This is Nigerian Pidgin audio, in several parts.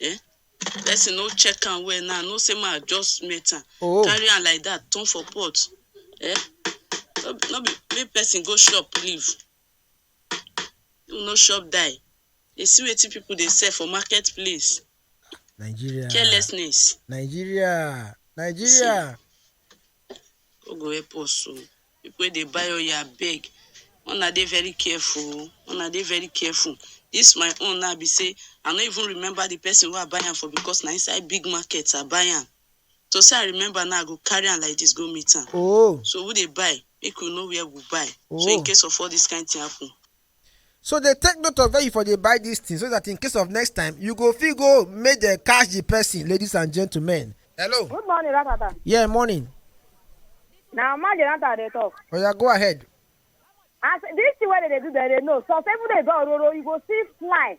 Eh? Person no check am well now. No say ma just met am. Oh. Carry am like that, turn for pot. Eh? No, be- no be make person go shop leave. You no shop die. Dey see wetin people dey sell for market place. Nigeria. Carelessness. Nigeria. Nigeria. God go help us o. Pipu wey dey buy oil abeg, make una dey very careful o, make una dey very careful. Dis my own now be sey, I no even remember di person wey I buy am for because na inside big market I buy am. To sey I remember now, I go carry am like dis go meet am. So who dey buy, make we know where we buy, so in case of all dis kind thing happen, so dey take note of where you for dey buy dis thing so that in case of next time you go fit go make dem catch the person ladies and gentlemen hello Good morning, Ratata. yeah morning Na Mama Jonathan dey talk. oya go ahead As this thing wey dem dey do, dem dey know. Some people dey go ororo, you go see fly.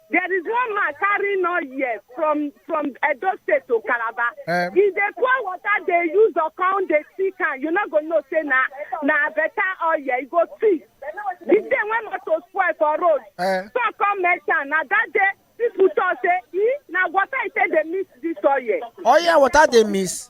There is one man carrying oil here from from Edo State to Calabar. Um, he dey pour water dey use okan dey see can you no go know say na na better oil you go see. The day when motor spoil for road. Uh, so come mention na that day people talk say e na water e take dey mix this oil. Oil water dey mix.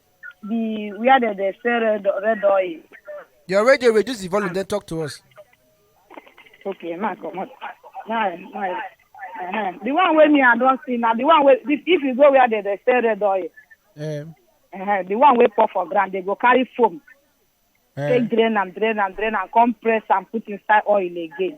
the where they dey sell red red oil. Your radio, reduce the volume, then talk to us. Okay, ma come on. Now, now, uh-huh. the one wey me I don see na the one wey if if you go where they dey sell red oil, Um, uh-huh, the one wey pour for ground they go carry foam take um, drain am drain am drain am come press am put inside oil again.